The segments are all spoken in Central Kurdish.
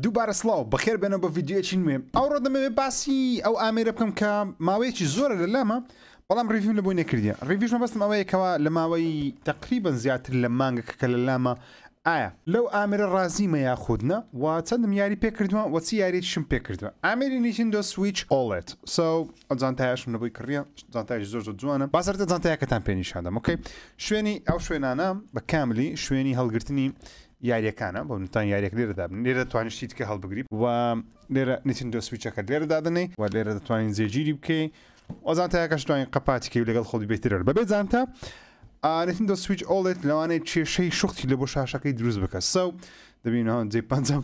دووبارە سڵاو، بەخێر بێنەوە بۆ ڤیدیۆیەکی نوێ. ئەوڕۆ دەمەوێت باسی ئەو ئامێرە بکەم کە ماوەیەکی زۆرە لە لامە، بەڵام ڕیڤیوم لە بۆی نەکردیە. ڕیڤیوش مەبەستم ئەوەیە کەوا لە ماوەی تەقریبەن زیاتر لە مانگێکە کە لە لامە، ئایا لەو ئامێرە ڕازیمە یاخود نا و چەندم یاری پێ کردووە و چ یاریەکیشم پێ کردووە. ئامێری نیتندۆ سویچ ئۆڵێد. سەو ئەو جانتایەشم لە بۆی کڕیە، جانتایەکی زۆر زۆر جوانە. با سەرەتا جانتایەکەتان پێ نیشان دەم، ئۆکەی. شوێنی، ئەو شوێنانە بە کاملی شوێنی هەڵگرتنی یاریەکانە بۆ منتان یاریەک لێرە دابنێ لێرە توانی شتی دیکە هەڵبگری و لێرە نیتندۆ سویچەکەت لێرە دادەنێی و لێرە دەتوانین جێگیری بکەی ئۆزان تاکەش توانین قەپاتیکەی و لەگەڵ خۆڵی بێترەر بەبێ جانتا ئارتندۆ سویچ ئۆڵێت لەوانەیە کێشەی شختی لە بۆ شاشەکەی دروست بکە سەو دەبینەوە جێ پەنجەم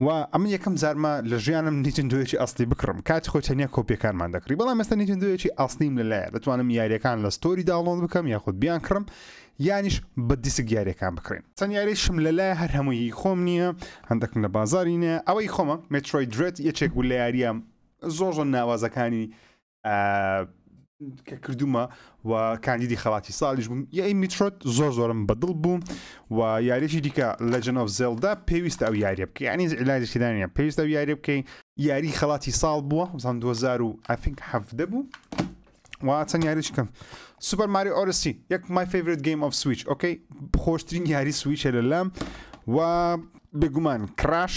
و ئەمن یەکەم جارمە لە ژیانم نیتندۆیەکی ئەسلی بکڕم کاتی خۆی تەنیا کۆپیەکانمان دەکڕی بەڵام ئێستا نیتندۆیەکی ئەسلیم لەلایە دەتوانم یاریەکان لە ستۆری داڵۆن بکەم یاخود بیان کڕم یانیش بە دیسک یاریەکان بکڕین چەند یاریشم لەلایە هەر هەمووی خۆم نییە هەندەکم لە بازاری نیە ئەوەی خۆمە مترۆی درێت یەکێک بوو لە یاریە زۆر زۆر ناوازەکانی کە کردومە و کاندیدی خەڵاتی ساڵیش بووم یای میترۆت زۆر زۆرم بەدڵ بوو و یاریشی دیکە لە جنۆف زێلدا پێویست ئەو یاریە بکە ینی علاجشیدانە پێویست ئەو یاری بکەین یاری خەڵاتی ساڵ بووە زان 2000 و ئەفینک هەفدە بوو و چەند یاریش کەم سوپەر ماری ئۆرسی یەک مای فیورت گەیم ئۆف سویچ ئۆکەی خۆشترین یاری سویچە لە لام و بێگومان کراش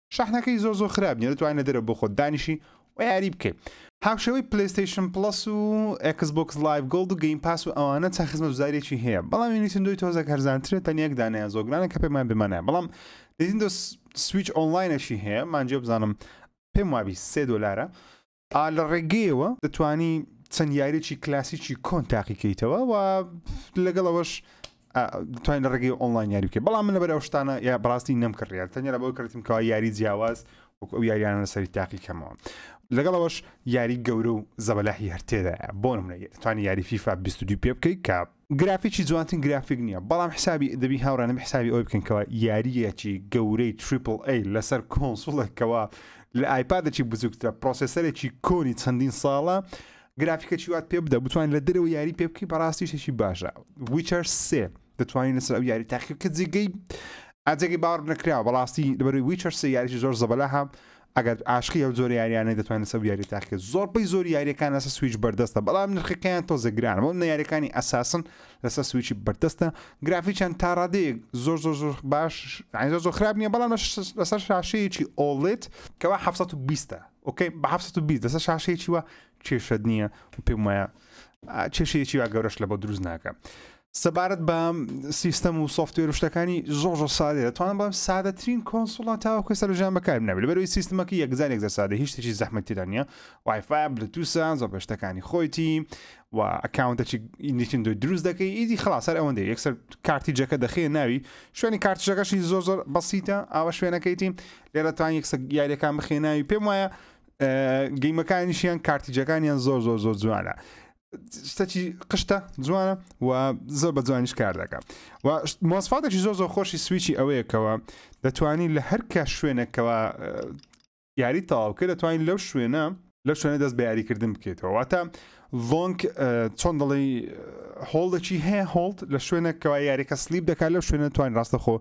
شەحنەکەی زۆر زۆر خراپ نیە دەتوانین لە دەرەوە بۆ خۆت دانیشی و یاری بکەی هاوشێوەی پلەیستەیشن پڵەس و ئەکس بۆکس لایڤ گۆڵد و گەیم پاس و ئەوانە چەند خزمەتگوزاریێکی هەیە بەڵام نیتندۆی تۆزە هەرزانترە تەنیا یەک دانەیە زۆگرانە کە پێمان بمانە بەڵام نیتندۆ سویچ ئۆنلاینەشی هەیە مانجێ بزانم پێم وابی سێ دۆلارە ئا لە ڕێگەیەوە دەتوانی چەند یاریێکی کلاسیکی کۆن تاقی کەیتەوە و لەگەڵ ئەوەش توانین لە ڕێگەی ئۆنلاین یاری بکە بەڵام من لە بەرەو شتانە یا بڕاستی نەمکڕیان تەنیا بۆ کردیم کەوا یاری جیاواز وەک ئەو یاریانە لەسەری تاقی کەمەوە لەگەڵەوەش یاری گەورە و زەبەلاحی هەرتێدا بۆ منە توانی یاری فیفا 22 پێ بکەیت کە گرافیکی جوانترین گرافیک نییە بەڵام حسابی دەبی هاوڕێنم حسابی ئەوی بکەن کەەوە یاریەکی گەورەی تریپل ئەی لەسەر کۆنسوڵێکەوە لە ئایپادێکی بزووکترە پرۆسسەرێکی کۆنی چەندین ساڵە گرافیکە چیوات پێ بدە بتوان لە درەوە یاری پێ بکەی بەڕاستی شتێکی باشە ویچەر سێ دەتوانین لەسەر ئەو یاری تاقی کە جێگەی ئاجێگەی باوەڕ نەکراوە بەڕاستی لەبەروی ویچەر سێ یاریی زۆر زەبەلاها ئەگەر عاشقی ئەو جۆرە یاریانەی دەتوانێت لەسەر ئەو یاریە تاقیکەت زۆربەی زۆری یاریەکان لەسەر سویچ بەردەستە بەڵام نرخەکەیان تۆزێ گرانە بەڵام نە یاریەکانی ئەساسن لەسەر سویچی بەردەستە گرافیکیان تا ڕادەیەک زۆر زۆر زۆر باش عین زۆر زۆر خراپ نییە بەڵام لەسەر شاشەیەکی ئۆڵێت کەوا 1920 ئۆکەی بە 1920 لەسەر شاشەیەکی وە کێشەت نییە و پێم وایە کێشەیەکی وا گەورەش لە بۆ دروست ناکە سەبارەت بە سیستەم و سۆفتوێر و شتەکانی زۆر زۆر سادەیە دەتوانم بڵێم سادەترین کۆنسوڵا تاوەکو ئێستا لە ژیان بەکارم نابێت لەبەرەوەی سیستمەکە یەکجار یەکجار سادە هیچ شتێکی زەحمەتی تێدا نییە وایفای بلوتوسە زۆر بە شتەکانی خۆیتی و ئەکاونتەکی نیتندۆ دروست دەکەی ئیدی خلاص هەر ئەوەندە یەکسەر کارتی جەکە دەخێ ناوی شوێنی کارتژەکەشی زۆر زۆر بەسیتە ئاوە شوێنەکەیتی لێرەتان یەکسە یاریەکان بخێناوی پێم وایە گەیمەکانیشیان کارتیجەکانیان زۆر زۆر زۆر جوانە شتەکی قشتە جوانە و زۆر بە جوانیش کار دەکە و مۆسفاتێکی زۆر زۆر خۆشی سویچی ئەوەیەکەوە دەتوانین لە هەرکە شوێنێکەوە یاری تەواوکە دەتوانین لەو شوێنە لە شوێنە دەست بە یاریکردن بکەیتەوە واتە ڤۆنگ چۆن دەڵی هۆڵدەکی هەیە هۆڵد لە شوێنە کەوا یاریەکە سلیب دەکات لەو شوێنە توانین ڕاستەخۆ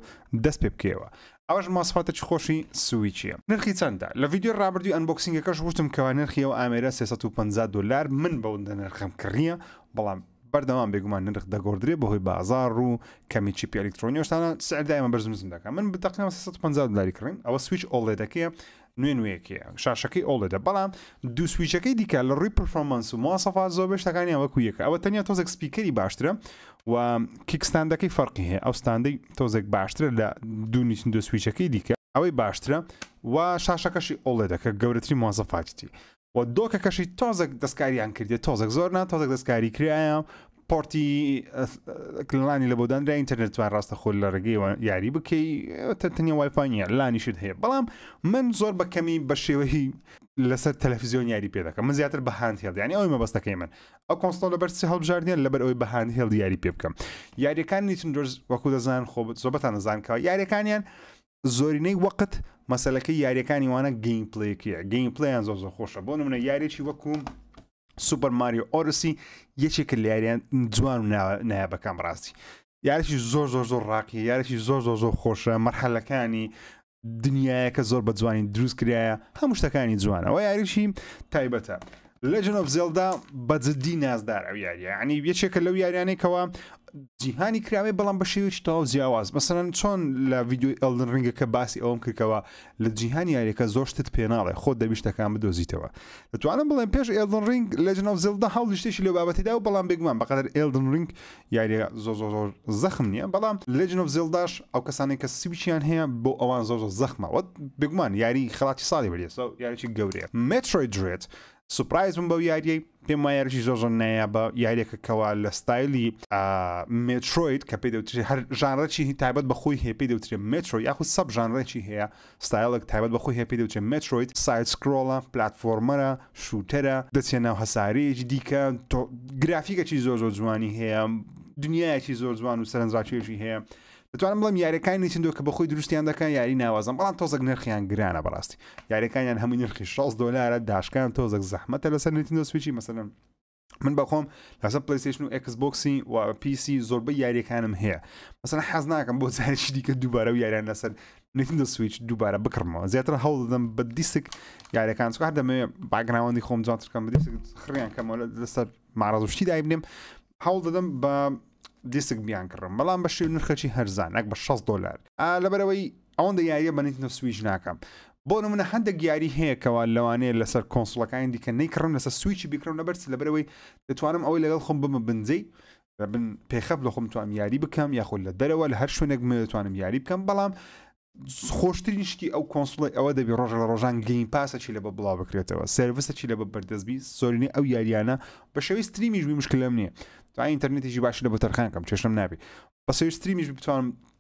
دەست پێ بکەوە ئەوەش ماسفاتێکی خۆشی سویچیە. نرخی چەندە؟ لە ڤیدیۆی ڕابردووی ئەنبۆکسینگەکەش ووتم کەوا نرخی ئەو ئامێرە سێ سەد و پەنجا دۆلار من بەوندە نرخەم کڕیە بەڵام بەردەوام بێگومان نرخ دەگۆردرێ بەهۆی بازاڕ و کەمی چیپی ئەلیکترۆنی ئەوشتانە سعر دایمە بەرزونزم دەکا من بە تەقریبا سێ سەد و پەنجا دۆلاری کڕیم ئەوە سویچ ئۆڵێدەکەیە نوێ نوێیەکی شاشەکەی ئۆڵێدە بەڵام دوو سویچەکەی دیکە لە ڕووی پرفۆمەنس و موواسەفات زۆر بەشتەکانیان وەکو یەکە ئەوە تەنیا تۆزێک سپیکەری باشترە و کیکستاندەکەی فەرقی هەیە ئەو ستاندەی تۆزێک باشترە لە دوو نیچن دو سویچەکەی دیکە ئەوەی باشترە و شاشەکەشی ئۆڵێدەکە گەورەتری موواسەفاتیتی وە دۆکەکەشی تۆزەک دەستکاریان کردێت تۆزەک زۆر نا تۆزەک دەستکاری کرایە پۆرتی کللانی لە بۆدانرا ئینتەرنێتوان ڕاستە خۆل لە ڕێگەیەوە یاری بکەی تەنیا وایفانە لانیشت هەیە بەڵام من زۆر بە کەمی بە شێوەی لەسەر تەلەفزیۆن یاری پێ دەکەم من زیاتر بەهاند هێڵدیانی ئەوی مەبەستەکەی من ئەو کۆنسۆل لە بەرسی هەڵبژاردنیان لەبەر ئەوی بەهاند هێڵ دیاری پێ بکەم یاریەکان نیتن درۆز وەکو دەزان خۆ زۆبەتان دەزانکەوە یاریەکانیان زۆرینەی وەقت مەسەلەکەی یاریەکانی وانە گەیم پلەیەکەیە گەیم پلیان زۆ زۆ خۆشە بۆ منە یاریی وەکوم سوپەر ماری ئۆرسی یەکێکە لە یاریان جوان و نایابەکان ڕاستی یاریی زۆر زۆر زۆر ڕاقی یاریی زۆر زۆر زۆر خۆشە مەرحەلەکانی دنیایەکە زۆر بە جوانی دروست کرایە هەموو شتەکانی جوانەوە یاریی تایبەتە Legend of Zelda بە جدی نازدار ئەو یاریە ینی یەکێکە لەو یاریانەی کەەوە جیهانی کراوێ بەڵام بە شێوێکی تەواو جیاواز مەسەرەن چۆن لە ویددیوی ئەلدن ڕنگە کە باسی ئەوم کردەوە لە جیهان یاریەکە زۆر شتت پێناڵێ خۆ دەبیشتەکان بدۆزیتەوە دەتوانم بڵێن پێش ئێلدن ڕنگ لە جنەوزلدا هەڵ شتێکی لە بابەتیدا و بەڵام بێگومان بەقدر ئێلدن ڕنگ یاریەکە زۆر زۆر زۆر زەخم نییە بەڵام لەجن و زێڵداش ئەو کەسانی کە سویچیان هەیە بۆ ئەوان زۆر زۆر زەخمە وەت بگومان یاری خڵاتی ساڵی بەریێسە یاریی گەورەیە مترۆی درێت سوپایز بم بەو یاریەی پێم وایەرشی زۆر زۆر نایە بە یاریەکە کەوا لە ستایلی مترۆید کە پێی دەوتری هەر ژانڕێکی تایبەت بە خۆی هەیە پێی دەوترێت مترۆ یاخود سەب ژانڕێکی هەیە ستایڵێک تایبەت بە خۆی هەیە پێی دەوترێت مێترۆید، ساید سکرۆڵە، پلاتفۆرمەرە، شوتەرە، دەچێ ناو هەسارەیەکی دیکە، تۆ گرافیکەکی زۆر زۆر جوانی هەیە، دنیایەکی زۆر جوان و سەرنجڕاکێشی هەیە. دەتوانم بڵێم یاریەکانی نیتندۆ کە بەخۆی دروستیان دەکەن یاری ناوازەن بەڵام تۆزەک نرخیان گرانە بەڕاستی یاریەکانیان هەمووی نرخی 60 دۆلارە داشکان تۆزەک زەحمەتە لەسەر نیتندۆ سویچی مەسەلەن من بەخۆم لەسە پلیسشن و ئەکس بۆکسی و پیسی زۆربە یاریەکانم هەیە مەسەن حەز ناکەم بۆ زارشی دیکە دووبارە و یاریان لەسەر نتیدە سویچ دووبارە بکڕمەوە زیاتر هەڵ دەدەم بە دیسک یاریەکان سوار دەمەوێ باگراوەندی خۆم جوانترکەم بە دیسک خڕیان کەمەوە لەسەر ماڕازشتی دایبنێم هەوڵ دەدەم بە دیسک بیان کڕم بەڵام بە شێو نرخەچی هەرزان ئەک بە 6 دلار لەبەرەوەی ئەوەندە یاریە بە نیتنتۆ سویچ ناکەم بۆ نمونە هەندێک یاری هەیە کەوا لەوانەیە لەسەر کۆنسڵەکانی دیکە نەیکڕم لەسەر سویچی بیکڕم لەبەرچ لەبەرەوەی دەتوانم ئەوەی لەگەڵ خۆم بمە بنجەی بن پێخەف لە خۆم توانم یاری بکەم یاخود لە دەرەوە لە هەر شوێنێک من دەتوانم یاری بکەم بەڵام خۆشترین شتی ئەو کۆنسڵی ئەوە دەبی ڕۆژ لە ڕۆژان گەین پاسەکی لە بە بڵاو بکرێتەوە سرویسەکی لە بە بەردەستبی زۆرینی ئەو یاریانە بە شێوی ستریمیشبی مشکلم نییە تا ئینتەرنێتیشی باشی لە بە تەرخانکەم چێشم نابی بە سێستریمیش بتوانم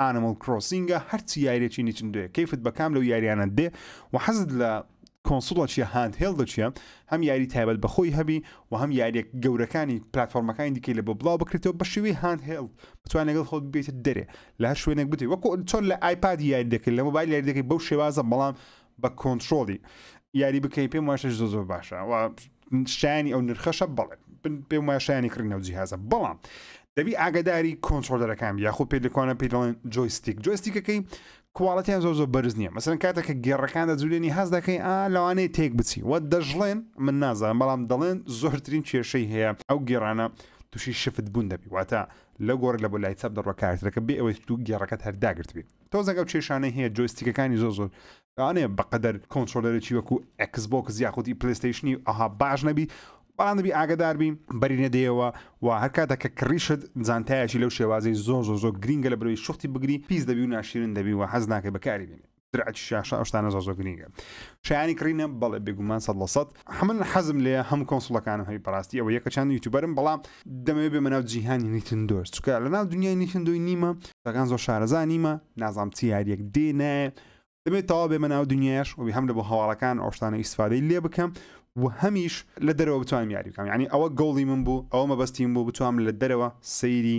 ئانمڵ کرۆسینگە هەرچی یاریەکی نیچندۆیە کەیفت بە کام لەو یاریانە دێ و حەزت لە کۆنسڵە چیە هاند هێڵ دەچیە هەم یاری تایبەت بەخۆی هەبی و هەم یاریە گەورەکانی پلتفۆرمەکانی دیکەی لە بۆ بڵاو بکرێتەوە بە شێوی هاند هێڵ بتوان لەگەڵ خۆت بێت دەرێ لە هەر شوێنێک بتێ وەکو چۆن لە ئایپاد یاری دەکرد لە مۆبایل یاری دەکەی بەو شێوازە بەڵام بە کۆنتترۆڵی یاری بکەی پێم واشە زۆ زۆر باشە شایانی ئەو نرخەشە بەڵێ پێم وای شایانی کڕینە و جیهازە بەڵام دەبی ئاگداری کۆنتترۆلەرەکان یاخۆ پێ لەکوانە پێ دەڵێن جۆیستیک جۆستیکەکەی کوواڵەتیان زۆر زۆر بەرز نییە مەسەرەن کاتێککە گێڕەکان دەجوولێنی هەز دەکەی ئا لەوانەیە تێک بچی وە دەژڵێن من نازان بەڵام دەڵێن زۆرترین کێشەی هەیە ئەو گێڕانە تووشی شفت بوون دەبی واتە لە گۆڕ لە بۆ لای چەپ دەڕۆ کارتەکە بێ ئەوەی تو گێڕەکەت هەرداگرت بێت تۆزێک ئەو کێشانەی هەیە جۆیستیکەکانی زۆر زۆر ئەێ بەقەدەر کۆنتترۆلەرێکی وەکو ئەکس بۆکس یاخودی پلیستیشنی ئەها باش نەبی بەڵام دەبی ئاگداربی بەری نەدەیەوە و هەر کاتە کە کڕیشت جانتایەکی لەو شێوازی زۆر زۆر زۆر گرینگە لە برۆی شختی بگری پیس دەبی و ناشیرن دەبی و حەز ناکە بەکاری بینێ درعکی شاشە ئەوشتانە زۆر زۆر گرینگە شایانی کڕینە بەڵێ بێگومان سەد لە سەد حەمن حەزم لێیە هەموو کۆنسڵەکانم هەبی بەڕاستی ئەوە یەکە چند یوتوبەرم بەڵام دەمەوێت بێمە ناو جیهانی نیتندۆش چکە لە ناو دنیای نیتندۆی نیمە دەگان زۆر شارەزا نیمە نازام چ یاریەک دێ نایە دەبێت تەوا بێمە ناو دنیاش وبی هەم لە بۆ هەواڵەکان ئەوشتانە ئیسفادەی لێ بکەم و هەمیش لە دەرەوە بتوانم یاری بکەم یعنی ئەوە گۆڵی من بوو ئەوە مەبەستیم بوو بتوام لە دەرەوە سەیری